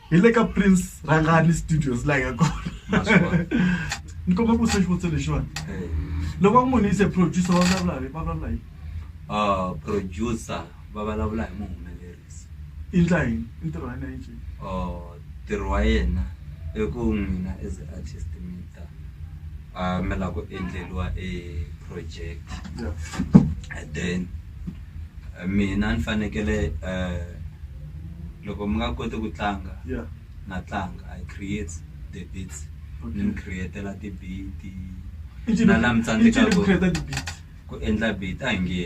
hi le ka prince rangani studios laha ya kona ni komba ku se xivutiso lexiwani loko va ku munhu yi se producer va vulavula hi va vulavula hi ah, producer va vulavula hi muhumelerisi i ndla yini i ntirho wa yena yinjhini Ntirho wa yena i ku n'wina as a artist mi ta a mi la ku endleriwa e project and then mina ni fanekele loko mi nga koti ku tlanga na tlanga I create the beats ni mi create-ela ti-beat na la mi tsandzekaku ku endla beat a hi nge.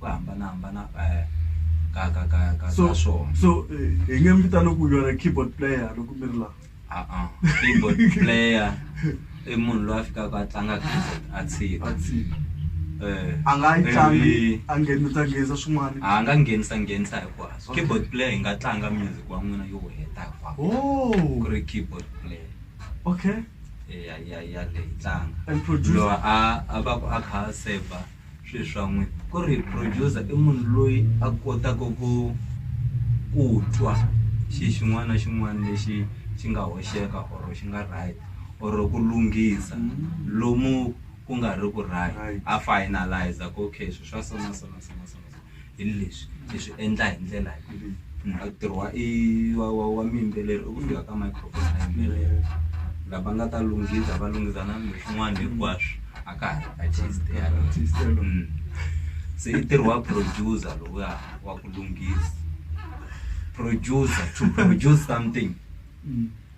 ku hambanahambana ka ka ka ka so ka swona so eh, hi nge mi vitana ku yona keyboard player loko mi ri laha a-a keyboard player i munhu loyi a fikaka a tlanga keyboard a tshika a tshika Eh, a nga yi tlangi ivi- a nghenisa nghenisa swin'wana a nga nghenisa nghenisa hinkwaswo Okay. keyboard player yi nga tlanga music wa n'wina yo heta hinkwako oh ku ri keyboard player okay ya ya ya leyi tlanga And producer? loyi a a va ku a kha a seva swilo swa n'wina ku ri producer i munhu loyi a kotaka ku ku twa xi xin'wana na xin'wana lexi xi nga hoxeka or xi nga right or ku lunghisa lomu ku nga ri ku right a finalize ku okay swilo swa so na so na so na so na so hi leswi hi swi endla hi ndlela leyi ntirho wa i wa wa wa miyimbeleri i ku fika ka microphone a yimbelela lava nga ta lunghisa va lunghisa na kumbe swin'wana hinkwaswo a ka ha ri artist yaloyo Mm. se i ntirho wa producer lowuya wa ku lunghisa producer to produce something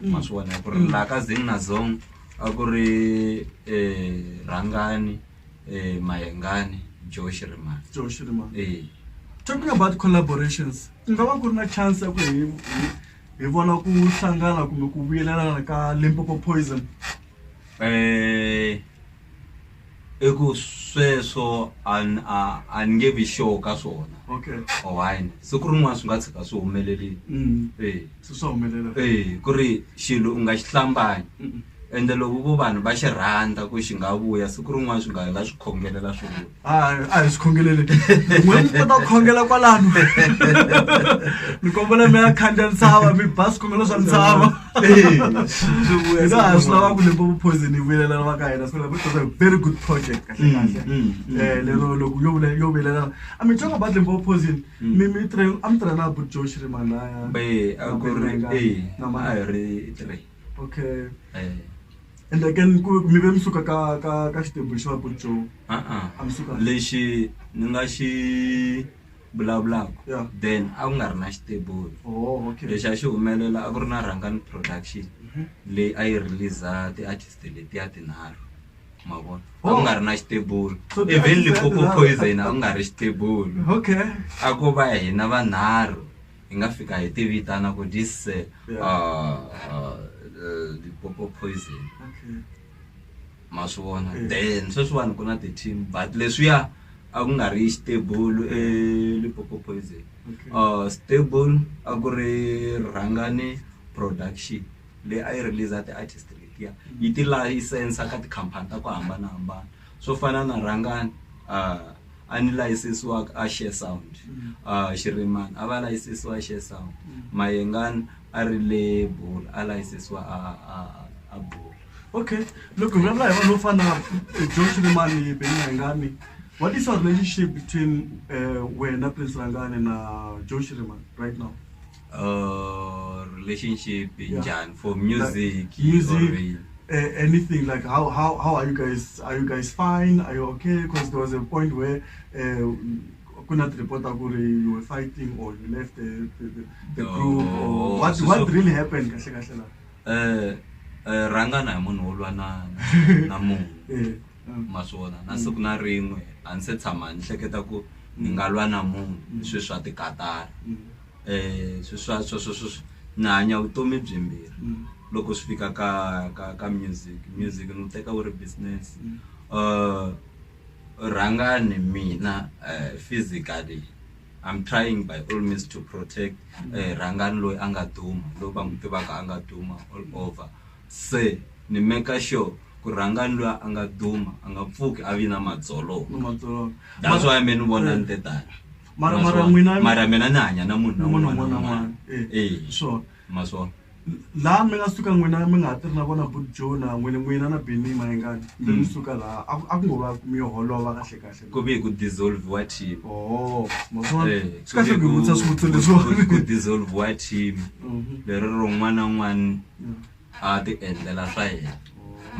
ma swi vona ku ri laha ka Zing na Zong a ku ri Rhangani Mayengani Joe Shirimani Joe Shirimani eya talking about collaborations ku nga va ku ri na chance ya ku hi hi hi vona ku hlangana kumbe ku vuyelelana ka Limpopo Poison . I ku sweswo a ni a a ni nge vi sure ka swona okay or why na siku rin'wana swi nga tshika swi humelerile mm. eh se swa humelela eh ku ri xilo u nga xi hlambanyi Mm-mm. ende loko vo vanhu va xi rhandza ku xi nga vuya siku rin'wana swi nga hela swi khongelela swi vuya hayi a hi swi khongeleli n'we mi kota ku khongela kwalano mi kombela mi ya khandziya ntshava mi ba swikhongelo swa ntshava swilava ku limpopo poison yi vuyelela va ka hina sivula because a very good project kahle mm, kahle mm, mm, eh, lero loko yo vula yo vuyelela i mean talk about limpopo poison mi mi tre am tre na but josh ri manaya be a ku ri eh na ma ri tre okay eh and again ku mi ve mi suka ka ka ka xitembu xa but joe a a mi suka lexi ni nga xi vulavulaka Yeah. then a ku nga ri na xitebulu Oh, okay. lexi a xi humelela a ku ri na rhangani production leyi a yi release ti-artist letiya tinharhu ma vona a ku nga ri na xitebulu So even ti-artist letiya lipopo tinharhu- poison a ku nga ri xitebulu Okay. a ko va hina vanharhu hi nga fika hi tivitana ku this uh, Yeah. uh, uh, lipopo poison Okay. ma swi vona mm. then sweswiwani ku na ti-team but leswiya a ku nga ri stable elipopo eh, poison uh, stable a ku ri rhangane production leyi a yi release ti-artist letiya yi ti-license ka tikhampani ta ku hambanahambana swo fana na rhangane uh, a ni layisisiwaka a share sound uh, xiriman a va layisisiwa a share sound mayengan a ri le bul a layisisiwa a, a, a bul okay loko hi vulavula hi vanhu vo fana na john xirimani beningangani what is your relationship between uh, wena prince rangane na john xirimani right now or relationship in Yeah. Jan for music, music, or in- uh, anything like how, how how are you guys are you guys fine are you okay because there was a point where uh, kunat reporter kuri you were fighting or you left the, the, the, the Oh, group or what so- what so- really happened kahle kahle la Eh, eh, ranga na munhu wo lwa na na munhu eh um, ma swi vona na siku na rin'we a ni se tshama ni hleketa ku ni nga lwa na munhu sweswi swa tikatara mm, um sweswo sweswo ni hanya vutomi byimbirhi loko swi fika ka ka ka music music ni wu teka wu ri business um rhangani mina um physically I'm trying by all means to protect rhangani loyi a nga duma loyi va n'wi tivaka a nga duma all over se ni make sure ku rhangani luya a nga duma a nga pfuki a vi na madzolonga that's why me ni vona ni te tani. Mara- Ma mara sure. n'wina- mara mina ni hanya na munhu na munhu un'wana un'wana na un'wana un'wana Eh, Eh. sure ma sure laha mi nga suka n'wina mi nga ha tiri na vona bud joe na n'wina n'wina na beni mayengani mi mi suka laha a ku- a ku ngo va mi yo holova kahle kahle ku ve ku dissolve wa team Oh, ma swi vona? Eh, Swi kahle ku hi vutisa swivutiso ku- leswiwani. ku dissolve wa team Mhm. leri rin'wana na un'wana Yeah. a ti endlela swa yena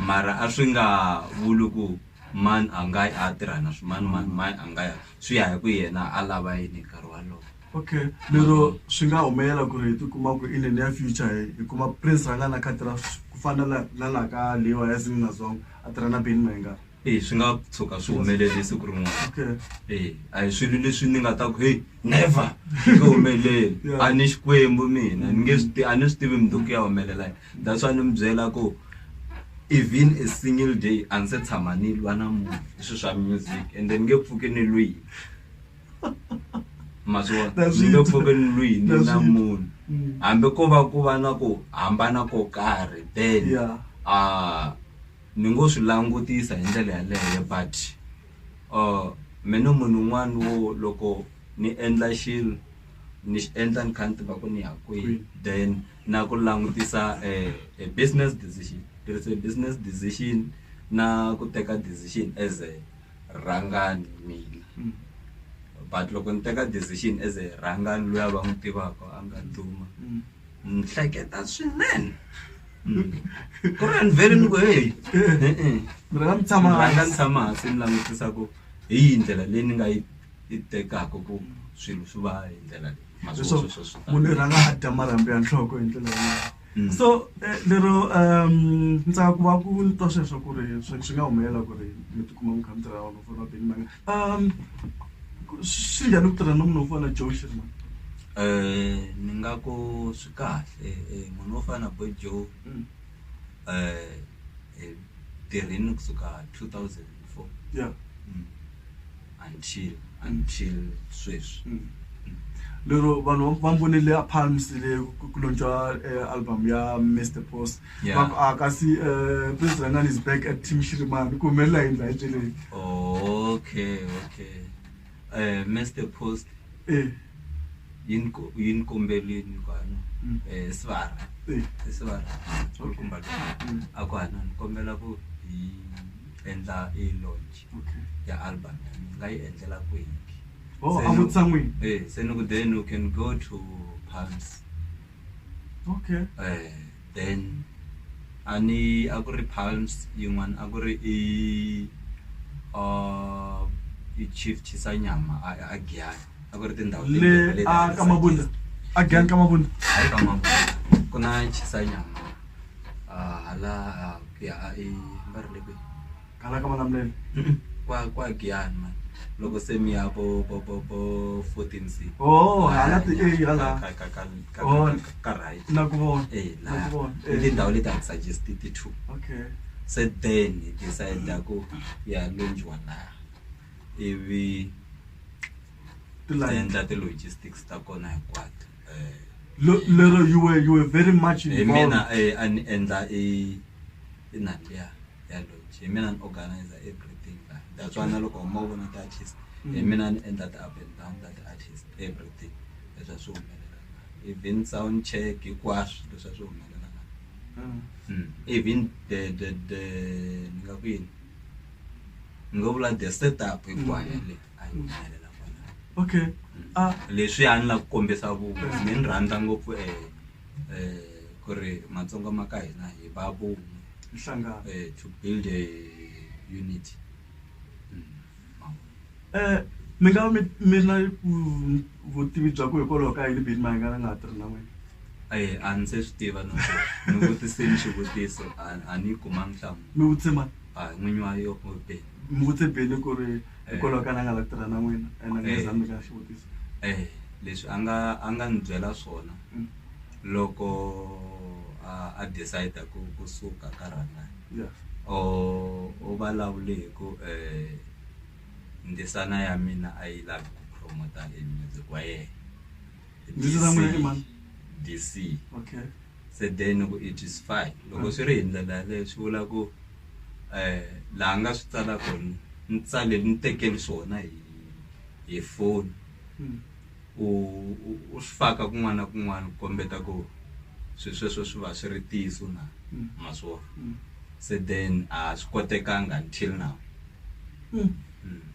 mara a swi nga vuli ku mani a nga yi a ya tirha na swimanimani mani a nga ya swi ya hi ku yena a lava yini hi nkarhi walowo. Okay lero swi nga humelela ku ri hi tikuma ku in the near future hi hi kuma prince la nga na khadi ra ku fana na la la ka Lewa ya Zim na Zong a tirha na Benny Mayenga E swi nga tshuka swi humelele siku rin'wana okay e a hi swilo leswi ni nga ta ku heyi never swi nge humeleli Yeah. a ni Xikwembu mina ni nge swi ti a ni swi tivi mundzuku ku ya humelela yini. that's why ni mi byela ku even a single day a ni se tshama ni lwa na munhu hi swilo swa music and then ni nge pfuki ni lwini ma swi vona That's ni nge it. pfuki ni lwini That's na it. munhu Mm. hambi ko va ku va na ku hambana ko karhi then Yeah. ah, ni ngo swi langutisa hi ndlela yaleyo but uh, mina munhu un'wana wo loko ni endla xilo ni xi endla ni kha ni tiva ku ni ya kwihi Kwihi. then na ku langutisa e business decision tirhise business decision na ku teka decision as a rhangani mina mm. but loko ni teka decision as a rhangani loyi a va n'wi tivaka a nga duma mm. ni hleketa swinene mm. ku ri ni vele ni ku heyi rhanga ni tshama hansi ni langutisa ku hi yi ndlela leyi ni nga yi tekaka ku swilo swi va hi ndlela leyi leswo munhu i rhanga a dya marhambu ya nhloko hi ndlela yaleyo Mm. so eh, lero um ni tsaka ku va ku ni twa sweswo ku ri swi swi nga humelela ku ri mi tikuma mi kha mi tirha vanhu fona beni manga um ku- swi njhani ku tirha na munhu wo fana joe shirman um ni nga ku swi kahle eh, munhu wo fana na boy joe Mm. um hi tirhini kusuka two thousand and four ya until until sweswi mm. lero vanhu va mbonile a palms le ku lontswa eh, album ya mr post va ku a ah, kasi eh, prince rangani is back at team shirimani ku humelela hi ndla eceleni okay okay um mr post eh. yini kombelweni kwano um mm. sivara sivara kumba mm. a ku hana ni kombela ku hi endla i launch okay ya album ya mina ni nga yi endlela kwihi oh Se a ni- vutsan'wini eh se ni ku then you can go to palms okay eh then a ni a ku ri palms yin'wana a ku ri i uh i chief chisanyama a a giyani a ku ri tindhawu le timbirhi leti a a ti ka mabunda tsakisa. a gyan ka mabunda hayi ka mabunda ku na chisanyama ah, hala ah, ku ya a i va ri le kwihi Kana ka vana mlele. kwa kwa Giyani man loko se mi ya vo vo vo vo 14 se Oh, hala ti eh, hala. ka ka ka ka Oh. ka- ka right Na ku vona. eh Na la ku vona. i Eh. tindhawu leti a ti suggest ti two Okay. se then hi decide ku ya lunjwa la ivi Ti hi line. endla ti logistics ta kona hinkwato eh. Lo- lero you were you were very much hi involved. mina eh, a ni endla i i nandzu ya ya lodge hi mina ni organizer everything la that's why na loko huma u vona ti-artist hi mina ni endla ti-up and down ta ti-artist everything leswi a swi humelela even sound check hinkwaswo leswi a swi humelela Mm. Mm. even the the the ni nga ku yini ni nga vula the setup hinkwayo yaleyo a yi humelela kwalano okay ah leswi a ni la ku kombisa ku ni ni rhandza ngopfu eh eh ku ri matsonga ma ka hina hi va vun'we nhlangano eh to build a unity Mm, ma vona. eh mi nga mi mi na vu- vutivi bya ku hikwalaho ka yini bini mahingana nga ha tirhi na n'wina Eh, a ni se swi tiva no ni vutiseni xivutiso a a ni yi kumanga nhlamulo mi vutise mani a n'winyi wa yo be mi vutise bele ku ri hikwalaho ka na nga la ku tirha na n'wina and a nga zami ka xivutiso um leswi a nga a nga ni byela swona mm. loko a a decide ku ku suka ka rhangani yes o o vulavule hi ku um ndzisana ya mina a yi lavi ku promota e music wa yena Ndzisana ya n'wina i mani? dc okay Sedeni ku i Justified loko swi ri hi ndlela yaleyo swi vula ku laha nga swi tsala kona ni tsale ni tekeli swona hi hi foni u u swi faka kun'wana na kun'wana ku kombeta ku swi sweswo swi va swi ri ntiyiso na ma swi vona Sedeni a swi kotekanga until now.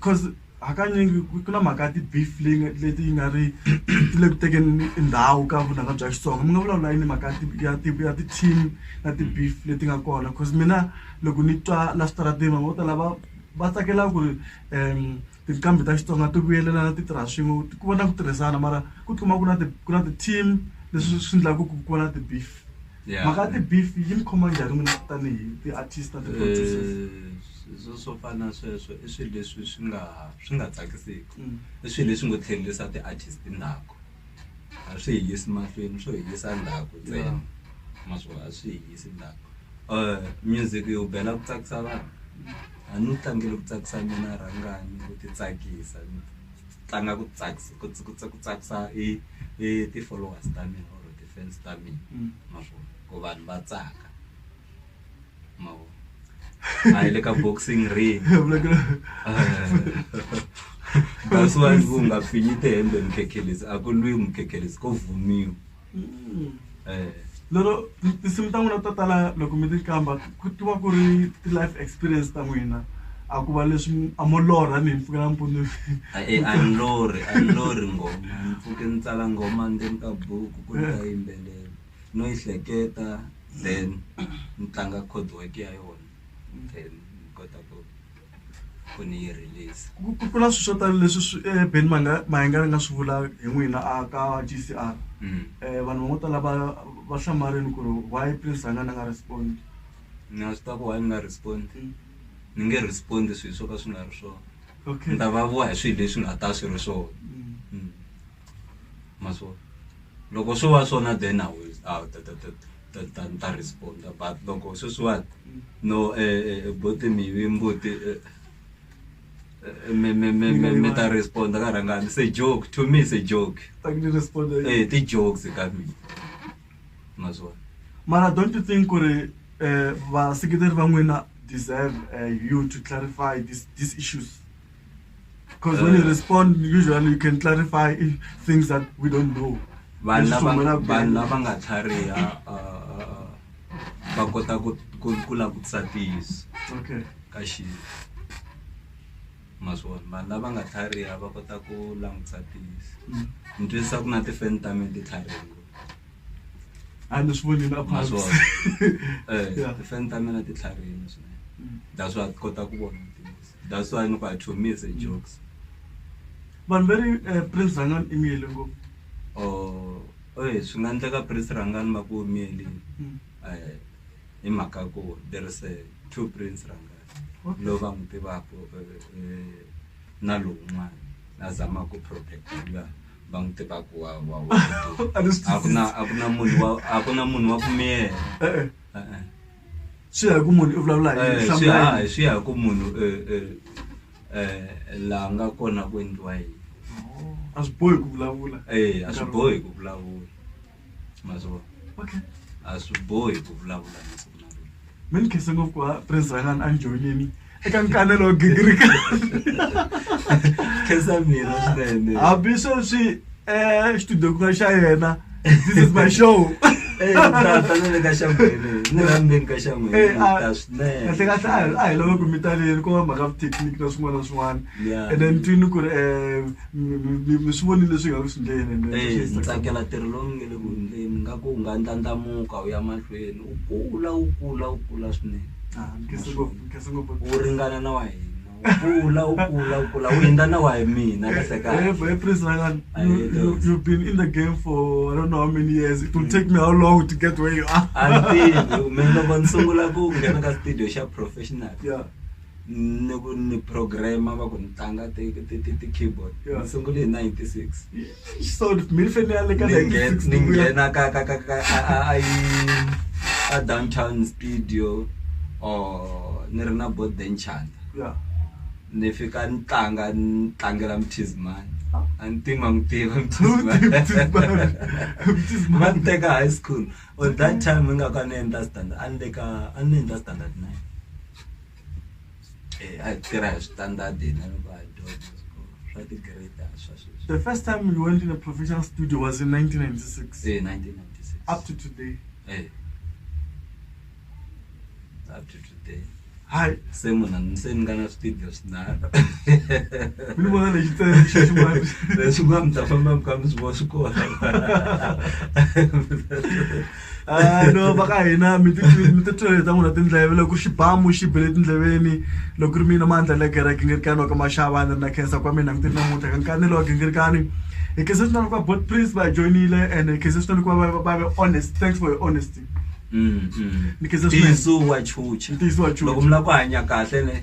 coz hakanyingi ku ku na mhaka ya ti-beef leyi nga leti yi nga ri ti le ku tekeni i ndhawu ka vunanga bya Xitsonga mi nga vulavula yini mhaka ya ti ya ti-team na ti-beef leti nga kona coz mina loko ni twa la switarateni vanhu vo tala va va tsakela ku ri tinqambi ta Xitsonga ti vuyelelana ti tirha swin'we ku va na ku tirhisana mara ku tikuma ku na ti ku na ti-team leswi swi endlaku ku ku va na ti-beef mhaka ya ti-beef yi ni khoma njhani n'wina tanihi ti-artist na ti-producers. Swilo swo fana na sweswo i swilo leswi swi nga swi nga tsakisiki i swilo leswi ngo tlhelisa ti-artist ndzhaku a swi hi yisi mahlweni swo hi yisa ndzhaku ntsena ma swi vona a swi hi yisi ndzhaku music u bela ku tsakisa vanhu a ni wu tlangela ku tsakisa mina rhangani ku ti tsakisa ni tlanga ku tsakisa ku ku ku tsakisa i i ti-followers ta mina or ti-fans ta mina ma swi vona ku vanhu va tsaka. a yi le ka boxing ring that's why ku nga pfinyi tihembe mukhekhelezi a ku lwi mukhekhelezi ko vhumiwa mm. eh. lero tinsimu ta n'wina to tala loko mi ti kamba ku tiwa ku ri ti-life experience ta n'wina a ku va leswi a mo lorha ni hi mpfukela mpfuno eh, a ni lorhi a ni lorhi ngoma ni pfuke ni tsala ngoma ndzeni ka buku ku ni ta yimbelela no yi hleketa then ni tlanga chord work ya yona then ni kota ku ku ni yi release ku ku- ku na swilo swo tala leswi swi eh, ben manga mayenga ri nga swi vula hi n'wina a ka gcr Mm. um vanhu van'wo tala va va hlamarini ku ri why prince a nga na nga respond na swi ta ku why ni nga respond ni nge respond swilo swo ka swi nga ri swona okay ni ta va vuwa hi swilo leswi nga ta swi ri swona Mm. Mm. ma swi vona loko swo va swona then a wu a wu ta ta ta ta ta ni ta respond but loko sweswiwani no buti mi yive mbuti mi mi mi mi mi ta respond ka rhangani se joke to me se joke e ti jokes ka mina ma swi vona mara don't you think ku ri vaseketeri va n'wina deserve you to clarify this this issues. Because uh, when you uh, respond, usually you can clarify things that we don't know. vanhu lava nga tlhariha va kota ku langutisa tiyiso ka xilo maswona vanhu lava nga tlhariha va kota ku langutisa tiyiso mm. ni twisisa ku na tifeni ta mina ti tlhariha a ni swi vonile maswona um tifeni ta mina ti tlharihile swinene mm. that's why ti kota ku vona tiyiso That's why ni ku I chomise jokes. Vanhu va ri eh, Prince Rhangani i miyele ngopfu. Oh, oye swi nga endleka Prince Rhangani va ku miyelini. Mm. Eh, hi mhaka ya ku there is a two Prince Rhangani. Okay. Lowu va n'wi tivaka eh, eh, na lowun'wana. Na zama ku protect luya va n'wi tivaka wa wa wa. A ni swi A ku na a ku na munhu wa a ku na munhu wa ku miyela. Eh, eh. Eh, eh. swi ya hi ku munhu i vulavula hi yini, hlamula hi yini. swi ya hi ku munhu laha nga kona ku endliwa yini a swi bohi ku vulavula e a swi bohi ku vulavula ma swi vona okay a swi bohi ku vulavula masiku lawa mi ni khensa ngopfu ku va prince rhangani a ni joyinini. eka nkanelo wa gingirika khensa mina swinene hambi sweswi um xitudyokuka xa yena this is my show Eh, tata ni le ka xangwele ni la ndzeni ka xangwele Eh, a- ta swinene kahle kahle a hi- a hi lava ku mi taleli ku va mhaka vuthekiniki na swin'wana na swin'wana Yeah. and then twini ku ri um mi- mi mi- mi swi vonile leswi hi nga ku swi ndleni and then Eh, swi ndzi tsakela ntirho lowu mi nge le ku endleni nga ku u nga ndlandlamuka u ya mahlweni wu kula wu kula wu kula swinene wu ringana na wa hina kula u kula u kula u hundza na wa hi mina kahlekaaniloko ni sungula ku nghena ka studio xa professional ni ku ni program-a va ku ni tlanga ti ti ti ti-keyboard ni sungule hi ninety six. so ni fane ni ya le ka ni nghe- ni 1960 ku ya- nghena ka ka ka ka a- a- a yi- a downtown studio or ni ri na board benchanta Yeah. ni fika ni tlanga ni tlangela mthizimani a ni tivi ma n'wi tiva No, Mthizimani. Mthizimani. Mthizimani. va ni teka high school or that time ingaku a ni endla standard a ni le ka a ni endla standard nine eh, a hi tirha hi switandadi hina loko a hi dyondza swa tigrade a swa sweswi The first time you went in a professional studio was in 1996. se 1996 Up to today. eh up to today Hi. se munhu se ni nga na switidio swinharhu Mini vona lexi tsere xi ximani. leswi nga mi ta famba mi kha mi swi vona swi kona Ah, no va ka hina mi titwele ta n'wina tindleve loko xibamu xi bele etindleveni loko ri mina mandla le gere gingirikani wa ka maxava ni ri na khensa kwa mina ni ti ri namuntlha ka nkanelo wa gingirikani hi khensa swinene kuva bot prince va hi joyinile and hi khensa swinene kuva va ve honest thanks for your honesty mm, mm. ni khensa swinene ntiyiso wa chucha ntiyiso wa chucha loko mi lava ku hanya kahle ne